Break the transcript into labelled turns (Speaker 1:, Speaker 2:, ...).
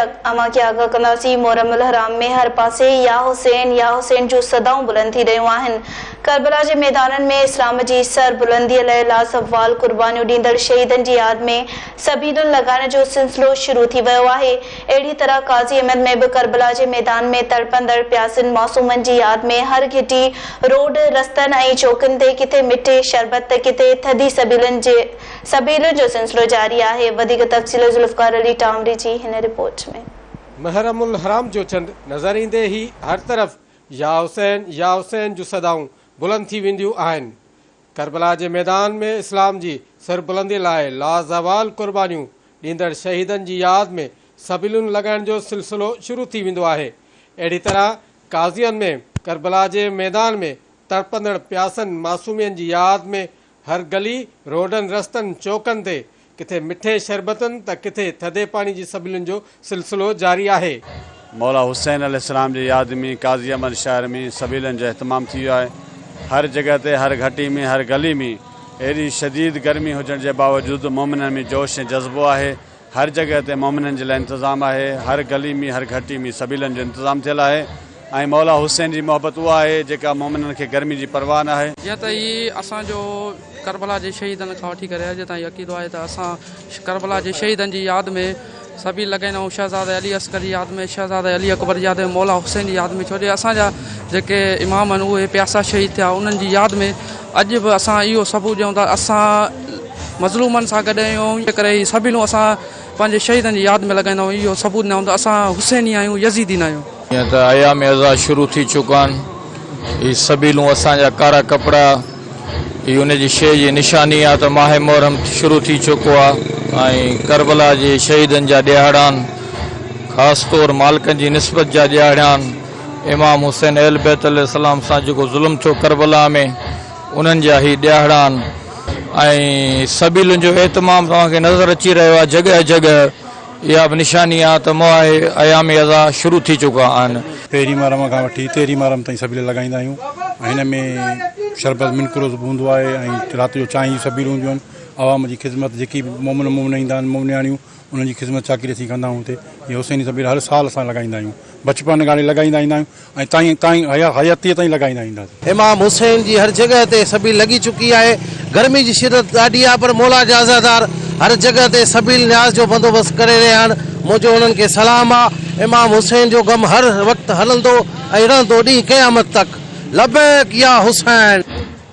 Speaker 1: اوهان کي آگاهه ڪنداسين، محرم الحرام ۾ هر پاسي يا حسين يا حسين جون صدائون بلند ٿي رهيون آهن، ڪربلا جي ميدانن ۾ اسلام جي سر بلنديء لئه لازوال قربانيون ڏيندڙ شهيدن جي ياد ۾ سبيلون لڳائڻ جو سلسلو شروع ٿي ويو آهي، اهڙي طرح قاضي احمد ۾ به ڪربلا جي ميدان ۾ تڙپندڙ پياسين معصومن جي ياد ۾ هر گهٽي، روڊ، رستن ۽ چوڪن تي ڪٿي مٺي شربت ته ڪٿي ٿڌي سبيلن جي. سبيلن جو سلسلو جاري آهي وڌيڪ تفصيل ذوالفقار علي ٽامري جي هن رپورٽ ۾. محرم الحرام
Speaker 2: جو چنڊ نظر ايندي ئي هر طرف يا حسين يا حسين جون صدائون بلند ٿي وينديون آهن. ڪربلا جي ميدان ۾ اسلام جي سربلندي لاء لازوال قربانيون ڏيندڙ شهيدن جي ياد ۾ سبيلون لڳائڻ جو سلسلو شروع ٿي ويندو آهي. اهڙي طرح قاضيان ۾ ڪربلا جي ميدان ۾ تڙپندڙ پياسن معصومين جي ياد ۾ هر گلي، روڊن، رستن، چوڪن تي ڪٿي مٺي شربتن ته ڪٿي ٿڌي پاڻي جي سبيلن جو سلسلو جاري آهي. مولا حسين
Speaker 3: عليه السلام جي ياد ۾ قاضي احمد شهر ۾ سبيلن جو اهتمام ٿي ويو آهي. هر جڳهه تي، هر گهٽي ۾، هر گلي ۾ ايڏي شديد گرمي هجڻ جي باوجود مومنن ۾ جوش ۽ جذبو آهي هر جڳهه تي مؤمنن جي لاء انتظام آهي، هر گلي ۾ هر گهٽي ۾ سبيلن جو انتظام ٿيل آهي ۽ مولا حسين جي محبت اها آهي جيڪا مؤمنن کي گرمي جي پرواهه نه آهي. جيئن ته هي اسان
Speaker 4: جو ڪربلا جي شهيدن کان وٺي ڪري اڄ تائين عقيدو آهي ته اسان ڪربلا جي شهيدن جي ياد ۾ سبيل لڳائيندا آهيون شهزاده علي اصغر جي ياد ۾ شهزاده علي اڪبر جي ياد ۾ مولا حسين جي ياد ۾ ڇو جو اسان جا جيڪي امام آهن اهي پياسا شهيد ٿيا انهن جي ياد ۾ اڄ به اسان اهو ثبوت ڏيون ٿا اسان مظلومن سان گڏ آهيون ۽ ان ڪري هي سربيلون اسان پنهنجي شهيدن جي ياد ۾ لڳائيندا آهيون اهو ثبوت ڏيندا آهيون ته اسان حسيني آهيون يزيدي نه آهيون. جيئن ته ايام عزا
Speaker 5: شروع ٿي چڪا آهن هي سربيلون اسان جا ڪارا ڪپڙا هي ان جي شيء جي نشاني آهي ته ماهه محرم شروع ٿي چڪو آهي ۽ ڪربلا جي شهيدن جا ڏيهاڙا آهن خاص طور مالڪن جي نسبت جا ڏيهاڙا آهن امام حسين اهل بيت عليه السلام سان جيڪو ظلم ٿيو ڪربلا ۾ انهن جا هي ڏيهاڙا آهن ۽ سبيلن جو اهتمام توهان کي نظر اچي رهيو آهي جڳهه جڳهه اها به نشاني آهي ته ماهي ايام اضحيٰ شروع ٿي چڪا آهن. پهرين محرم کان
Speaker 6: وٺي تيرهين محرم تائين سبيل لڳائيندا آهيون ۽ هن ۾ شربت من قرص به هوندو آهي ۽ رات جو چانهه جون سبيلون هونديون آهن عوام جي خدمت جيڪي به مومن مومنا ايندا آهن مومنياڻيون انهن جي خذمت چاڪري اسين ڪندا آهيون اتي جي حسيني سبيل هر سال اسان لڳائيندا آهيون بچپن کان لڳائيندا ايندا آهيون ۽ تائين تائين حياتيء تائين لڳائيندا اينداسين. امام حسين جي هر
Speaker 7: جڳهه تي سبيل لڳي چڪي آهي. گرمي جي شدت ڏاڍي آهي پر مولا جا عزادار هر جڳهه تي سبيل نياز جو بندوبست ڪري رهيا آهن. منهنجو انهن کي سلام آ. امام حسين جو غم هر وقت هلندو ۽ رهندو ڏينهن قيامت تڪ. لبيڪ
Speaker 2: يا حسين.